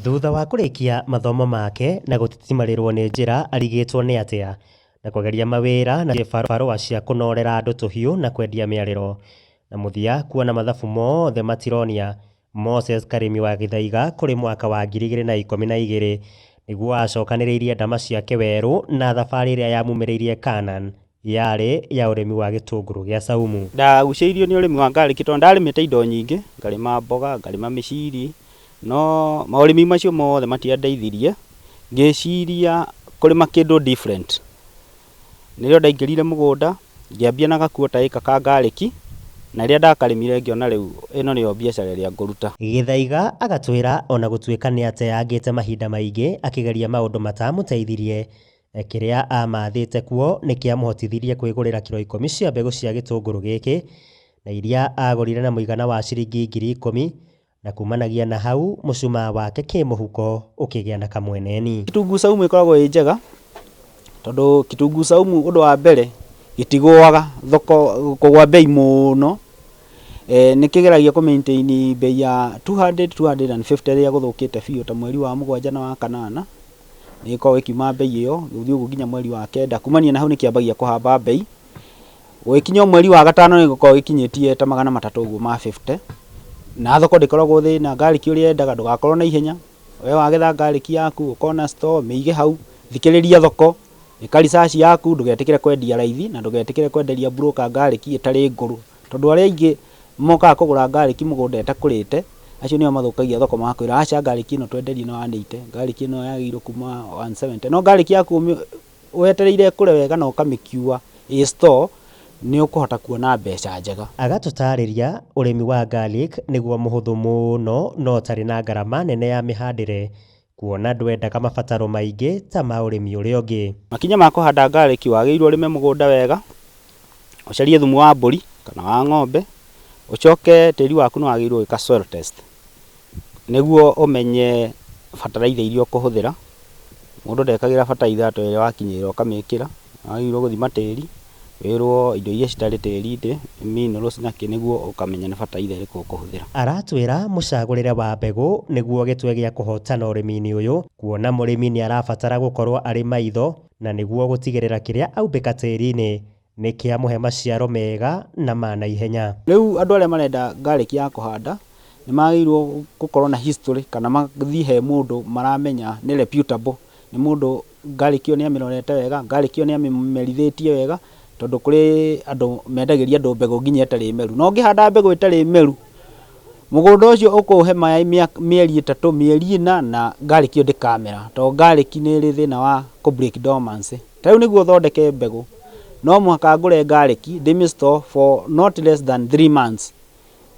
Thutha wa kũrĩkia mathomo make na gũtitimarĩrwo nĩ njĩra arigĩtwo nĩ atĩa na kũgeria mawĩra na barũa cia kũnorera andũ tũhiũ na kwendia mĩarĩro. Na mũthia kuona mathabu mothe matironia Moses Karĩmi wa Gĩthaiga kũrĩ mwaka wa ngiri igĩrĩ na ikũmi na igĩrĩ nĩguo acokanĩrĩirie ndama ciake werũ na thabarĩ ĩrĩa yamumĩrĩirie Canaan. Yarĩ ya ũrĩmi wa gĩtũngũrũ gĩa caumu. Ndagucĩirio nĩ ũrĩmi wa ngarĩki tondũ ndarĩmĩte indo nyingĩ, ngarĩma mboga, ngarĩma mĩciri, no maũrĩmi macio mothe matiandeithirie, ngĩciria kũrĩma kĩndũ different. Nĩrĩo ndaingĩrire mũgũnda, ngĩambia na gakuo ta ĩka ka ngarĩki, na rĩrĩa ndakarĩmire ngĩona rĩu ĩno nĩyo biacara ĩrĩa ngũruta. Gĩthaiga agatwĩra o na gũtuĩka nĩateyangĩte mahinda maingĩ akĩgeria maũndũ mataamũteithirie, Kĩrĩa aamaathĩte kuo nĩ kĩamũhotithirie kwĩgũrĩra kiro ikũmi cia mbegũ cia gĩtũngũrũ gĩkĩ, na iria aagũrire na mũigana wa ciringi ngiri ikũmi, na kuumanagia na hau mũcumaa wake kĩmũhuko ũkĩgĩa na kamweneni. Kitunguu saumu ĩkoragwo ĩ njega tondũ kitunguu saumu ũndũ wa mbere gĩtigũaga thoko kũgũa mbei mũno, nĩ kĩgeragia kũ maintain mbei ya two hundred, two hundred and fifty rĩrĩa gũthũkĩte biũ ta mweri wa mũgwanja na wa kanana, nĩ ĩkoragwo ĩkiuma mbei ĩyo, gũthiĩ ũguo nginya mweri wa kenda, kumania na hau nĩ kĩambagia kũhamba mbei, gũgĩkinya o mweri wa gatano nĩ gĩkoragwo gĩkinyĩtie ta magana matatũ ũguo ma fifty, na thoko ndĩkoragwo thĩ na ngarĩki ũrĩa yendaga ndũgakorwo na ihenya, we wagetha ngarĩki yaku ũkona store mĩige hau, thikĩrĩria thoko, ĩka research yaku ndũgetĩkĩre kwendia raithi na ndũgetĩkĩre kwenderia broker ngarĩki ĩtarĩ ngũrũ, Tondũ arĩa aingĩ mokaga kũgũra ngarĩki mũgũnda ĩtakũrĩte, acio nĩo mathũkagia thoko magakwĩra aca ngarĩki ĩno twenderie no 180, ngarĩki ĩno yagĩrĩirwo kuma 170. No ngarĩki yaku wetereire ĩkũre wega na ũkamĩkiua ĩ store nĩ ũkũhota kuona mbeca njega. Agatũtaarĩria ũrĩmi wa garlic nĩguo mũhũthũ mũno na ũtarĩ na ngarama nene ya mĩhandĩre. Kuona ndwendaga mabataro maingĩ ta ma ũrĩmi ũrĩa ũngĩ. Makinya ma kũhanda ngarĩki, wagĩrĩirwo ũrĩme mũgũnda wega, ũcarie thumu wa mbũri kana wa ng'ombe, ũcoke tĩri waku nĩwagĩrĩirwo gwĩka soil test nĩguo ũmenye bataraitha iria ũkũhũthĩra, mũndũ ndekagĩra bataraitha ta ĩrĩa wakinyĩrĩra ũkamĩkĩra, nĩwagĩrĩirwo gũthima tĩri. wĩrwo indo iria citarĩ tĩri-inĩ, minerals na kĩ nĩguo ũkamenya nĩ bataraitha ĩrĩkũ ũkũhũthĩra. Aratwĩra mũcagũrĩre wa mbegũ nĩguo gĩtwe gĩa kũhotana ũrĩmi-inĩ ũyũ kuona mũrĩmi nĩarabatara gũkorwo arĩ maitho na nĩguo gũtigĩrĩra kĩrĩa aumbĩka tĩri-inĩ nĩkĩamũhe maciaro mega na ma naihenya. Rĩu andũ arĩa marenda garlic ya kũhanda nĩmagĩrĩirwo gũkorwo na history kana mathiĩ he mũndũ maramenya nĩ reputable, nĩ mũndũ... ngarĩkio nĩ amĩrorete wega, ngarĩkio nĩ amĩmerithĩtie wega, tondũ kũrĩ andũ mendagĩria andũ mbegũ nginya ĩtarĩ meru. Na ũngĩhanda mbegũ ĩtarĩ meru, mũgũnda ũcio ũkũũhe maaĩ mĩeri ĩtatũ, mĩeri ĩna na ngarĩki ĩyo ndĩkamera, tondũ ngarĩki nĩ ĩrĩ thĩna wa kũ break dormancy. Ta rĩu nĩguo thondeke mbegũ, no mũhaka ngũre ngarĩki, ndĩmĩ store for not less than three months,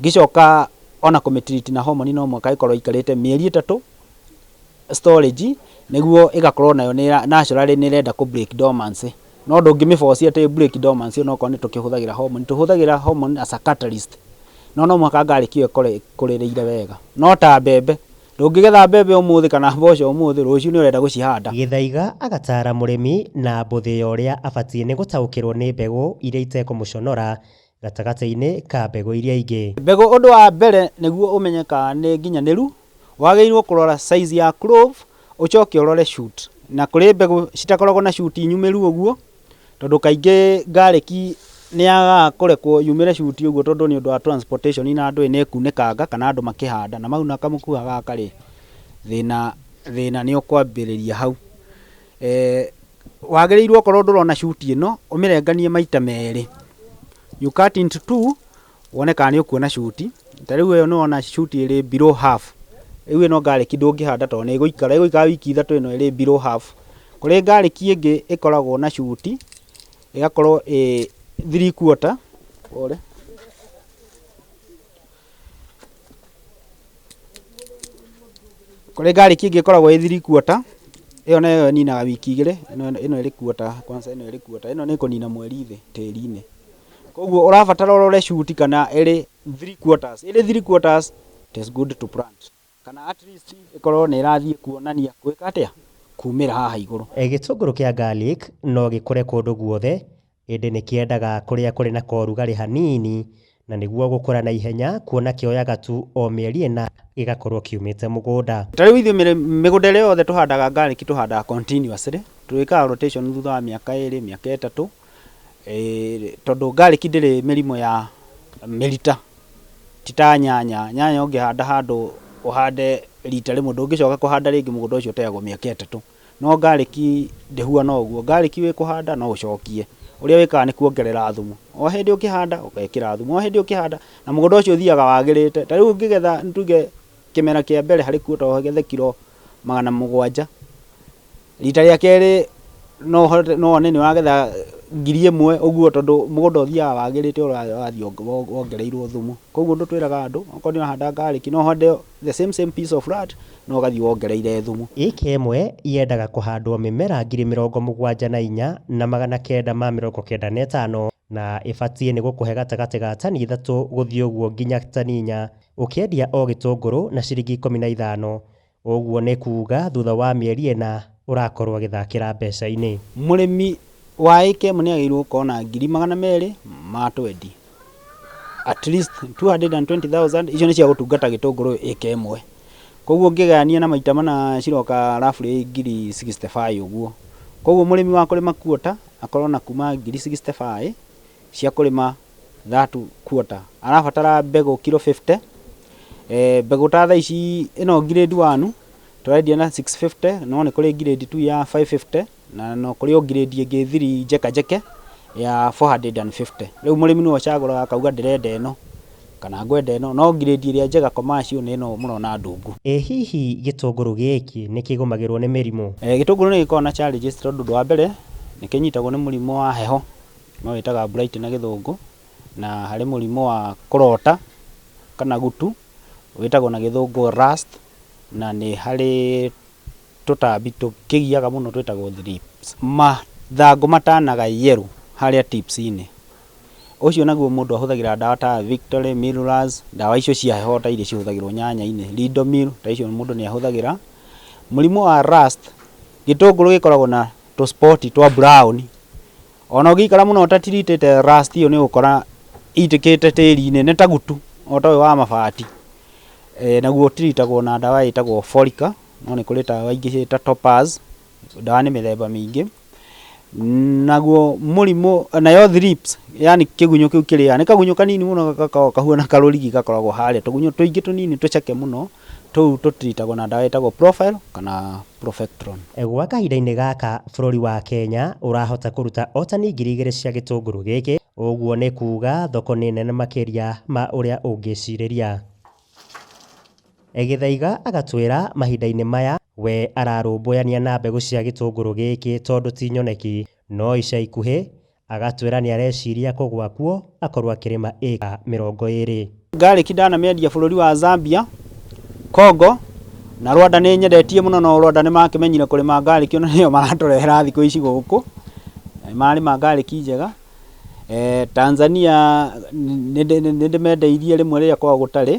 ngĩcoka ona kũmĩ treat na hormone no mũhaka ĩkorwo ĩikarĩte mĩeri ĩtatũ storage nĩguo ĩgakorwo nayo naturally nĩ ĩrenda kũ break dormancy. No ndũngĩmĩ force atĩ ĩ break dormancy o na okorwo nĩ tũkĩhũthagĩra hormone. Tũhũthagĩra hormone as a catalyst no no mũhaka ngarĩki ĩyo ĩkorwo ĩkũrĩrĩire wega. No ta mbembe, ndũngĩgetha mbembe ũmũthĩ kana mboco ũmũthĩ, rũciũ nĩ ũrenda gũcihanda. Gĩthaiga agataara mũrĩmi na mbũthĩ ya ũrĩa abatiĩ nĩ gũtaũkĩrwo nĩ mbegũ iria itekũmũconora gatagatĩ-inĩ ka mbegũ iria ingĩ. Mbegũ ũndũ wa mbere nĩguo ũmenye kana nĩ nginyanĩru, wagĩrĩirwo kũrora size ya clove, ũcoke ũrore shoot. Na kũrĩ mbegũ citakoragwo na shoot nyumĩru ũguo, tondũ kaingĩ garlic nĩ yagaga kũrekwo yumĩre shoot ũguo tondũ nĩ ũndũ wa transportation na andũ nĩ kunĩkanga kana andũ makĩhanda. Na mau na kamũkua gaka rĩ, thĩna nĩ ũkwambĩrĩria hau. Wagĩrĩirwo okorwo ndũrona shuti ĩno ũmĩrenganie maita merĩ. You cut into two wone kana nĩ ũkuona shuti. Ta rĩu ĩyo nĩwona shuti ĩrĩ below half. Rĩu ĩno garlic ndũngĩhanda tondũ nĩ ĩgũikara, ĩgũikara wiki ithatũ ĩno ĩrĩ below half. Kũrĩ garlic ĩngĩ ĩkoragwo na shuti ĩgakorwo ĩĩ three quarter, pole. Kũrĩ ngarĩki ĩngĩ ĩkoragwo ĩ three quarter, ĩyo nayo ĩninaga wiki igĩrĩ, ĩno ĩrĩ quarter kwanza ĩno ĩrĩ quarter, ĩno nĩ kũnina mweri thĩ tĩri-inĩ. Kũguo ũrabatara ũrore shoot kana ĩrĩ three quarters, ĩrĩ three quarters it is good to plant kana at least ĩkorwo nĩ ĩrathiĩ kuonania gwĩka atĩa? kumĩra haha igũrũ. Gĩtũngũrũ kĩa garlic no gĩkũre kũndũ guothe Ĩndĩ nĩ kĩendaga kũrĩa kũrĩ na korugarĩ hanini na nĩguo gũkũra na ihenya kuona kĩoyaga tu o mĩeri ĩna gĩgakorwo kiumĩte mũgũnda. Ta rĩu ithuĩ mĩgũnda ĩrĩa yothe tũhandaga garlic tũhandaga continuously, twĩkaga rotation thutha wa mĩaka ĩrĩ, mĩaka ĩtatũ, tondũ garlic ndĩrĩ mĩrimũ ya mĩrita ti ta nyanya. Nyanya ũngĩhanda handũ ũhande rita rĩmwe ndũngĩcoka kũhanda rĩngĩ mũgũnda ũcio ũteagwo mĩaka ĩtatũ. No garlic ndĩhuana ũguo, garlic wĩ kũhanda no ũcokie, ũrĩa wĩkaga nĩ kuongerera thumu, o hĩndĩ ũkĩhanda ũgekĩra thumu, o hĩndĩ ũkĩhanda, na mũgũnda ũcio ũthiaga wagĩrĩte, ta rĩu ũngĩgetha nĩ tuge kĩmera kĩa mbere harĩ kuo to ũgethe kiro magana mũgwanja, rita rĩa kerĩ no ũhote no wone nĩ wagetha ngiri ĩmwe ũguo tondũ mũgũnda ũthiaga wagĩrĩte ũrĩa wathiĩ wongereirwo thumu, koguo nĩtwĩraga andũ okorwo nĩ ũrahanda garlic no ũhande o The same same piece of land no ũgathiĩ wongereire thumu. Ĩĩka ĩmwe yendaga kũhandwo mĩmera ngiri mĩrongo mũgwanja na inya na magana kenda ma mĩrongo kenda na ĩtano na ĩbatiĩ nĩ gũkũhe gatagatĩ ga tani ithatũ gũthiĩ ũguo nginya tani inya ũkĩendia o gĩtũngũrũ na ciringi ikũmi na ithano. Ũguo nĩ kuuga thutha wa mĩeri ĩna ũrakorwo ũgĩthakĩra mbeca-inĩ. Mũrĩmi wa ĩĩka ĩmwe nĩ agĩrĩirwo gũkorwo na ngiri magana merĩ ma twendi. at least 220,000 icio nĩ cia gũtungata gĩtũngũrũ ĩka ĩmwe koguo ngĩgayania na maita mana ciroka roughly ngiri 65 ũguo koguo mũrĩmi wa kũrĩma quarter akorwo na kuma ngiri 65 cia kũrĩma that quarter arabatara mbegũ kilo 50 eh, mbegũ ta thaa ici ĩno grade 1 tũrendia na 650 no nĩ kũrĩ grade 2 ya 550 Na no kũrĩ o ngirĩndi ĩngĩ thiri njeke njeke ya 450. Rĩu mũrĩmi nĩwe ũcagũraga akauga ndĩrenda ĩno kana ngwenda ĩno. No ngirĩndi ĩrĩa njega commercial nĩ ĩno mũrona ndungu. Ĩ hihi gĩtũngũrũ gĩkĩ nĩ kĩgũmagĩrwo nĩ mĩrimũ? Ĩ gĩtũngũrũ nĩ gĩkoragwo na challenges tondũ ũndũ wa mbere nĩ kĩnyitagwo nĩ mũrimũ wa heho nĩyo ĩtaga blight na gĩthũngũ. Na harĩ mũrimũ wa kũrota kana gutu wĩtagwo na gĩthũngũ rust na nĩ harĩ... Tũtambi tũkĩgiaga mũno twĩtagwo thrips. Mathangũ matanaga yellow harĩa tips inĩ. Ũcio naguo mũndũ ahũthagĩra ndawa ta victory, millers, ndawa icio cia heho ta iria cihũthagĩrwo nyanya-inĩ, ridomil ta icio mũndũ nĩ ahũthagĩra. Mũrimũ wa rust, gĩtũngũrũ gĩkoragwo na tũ spot twa brown, ona ũngĩikara mũno ũta treat ĩte rust ĩyo nĩ ũgũkora ĩitĩkĩte tĩri-inĩ, nĩ ta gutu o ta ũyũ wa mabati. Naguo ũ treat agwo na ndawa ĩtagwo folic. no nĩ kũrĩ tawa ingĩ ta topaz, ndawa nĩ mĩthemba mĩingĩ. Naguo mũrimũ, nayo thrips yani kĩgunyũ kĩu kĩrĩaga, nĩ kagunyũ kanini mũno gakoragwo kahuana karũrigi gakoragwo harĩa, tũgunyũ tũingĩ tũnini tũceke mũno, tũu tũ treat agwo na ndawa ĩtagwo profile kana profectron. Gwa kahinda-inĩ gaka bũrũri wa Kenya ũrahota kũruta o tani ngiri igĩrĩ cia gĩtũngũrũ gĩkĩ, ũguo nĩ kuuga thoko nĩ nene makĩria ma ũrĩa ũngĩcirĩria. Gĩthaiga agatwĩra mahinda-inĩ maya we ararũmbũyania na mbegũ cia gĩtũngũrũ gĩkĩ tondũ ti nyoneki, no ica ikuhĩ agatwĩra nĩ areciria kũgũa kuo akorwo akĩrĩma ĩka mĩrongo ĩrĩ. Garlic ndanamĩendia bũrũri wa Zambia, Congo na Rwanda nĩ nyendetie mũno no Rwanda nĩ makĩmenyire kũrĩma garlic na nĩyo maratũrehera thikũ ici gũkũ, na nĩ mararĩma garlic njega. Tanzania nĩndĩmendeirie rĩmwe rĩrĩa kwaga gũtarĩ,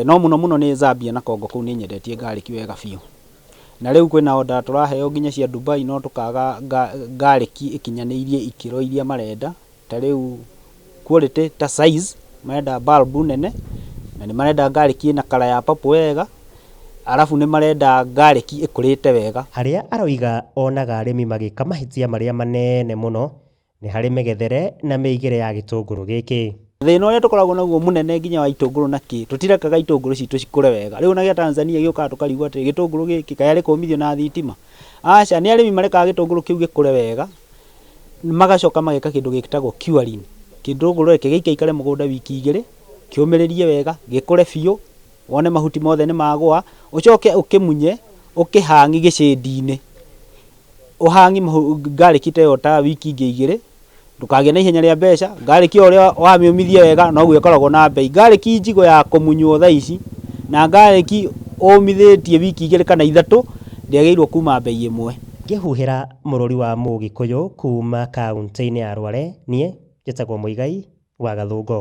no mũno mũno nĩ Zambia na Congo kũu nĩnyendetie ngarĩki wega biũ. Na rĩu kwĩna order tũraheo nginya cia Dubai no tũkaga ngarĩki ĩkinyanĩirie ikĩro iria marenda, ta rĩu quality ta size, marenda bulb nene, na nĩmarenda ngarĩki ĩna colour ya purple wega. Arabu nĩ marenda ngarĩki ĩkũrĩte wega. Harĩa aroiga onaga arĩmi magĩka mahĩtia marĩa maneene mũno nĩ harĩ mĩgethere na mĩigĩre ya gĩtũngũrũ gĩkĩ. Thĩna ũrĩa tũkoragwo naguo mũnene nginya wa itũngũrũ na kĩ, tũtirekaga itũngũrũ citũ cikũre wega. Rĩu ona gĩa Tanzania gĩũkaga tũkarigwo atĩrĩ, gĩtũngũrũ gĩkĩ kaĩ arĩ kũũmithio na thitima? Aca, nĩ arĩmi marekaga gĩtũngũrũ kĩu gĩkũre wega, magacoka mageka kĩndũ gĩtagwo curing. Gĩtũngũrũ reke gĩikaikare mũgũnda wiki igĩrĩ, kĩũmĩrĩrie wega, gĩkũre biũ. Wone mahuti mothe nĩ magũa, ũcoke ũkĩmunye ũkĩhang'i gĩcĩndi-inĩ. Ũhang'i ngarĩki ta ĩyo ta wiki ingĩ igĩrĩ, ndũkagĩe na ihenya rĩa mbeca. Ngarĩki o ũrĩa wamĩũmithia wega noguo ĩkoragwo na mbei. Ngarĩki njigũ ya kũmunywo thaa ici na ngarĩki ũmithĩtie wiki igĩrĩ kana ithatũ ndĩagĩrĩirwo kuuma mbei ĩmwe. Ngĩhuhĩra mũrũri wa Mũgĩkũyũ kuuma kauntĩ-inĩ ya Rware, niĩ njĩtagwo Muigai wa Gathũngũ.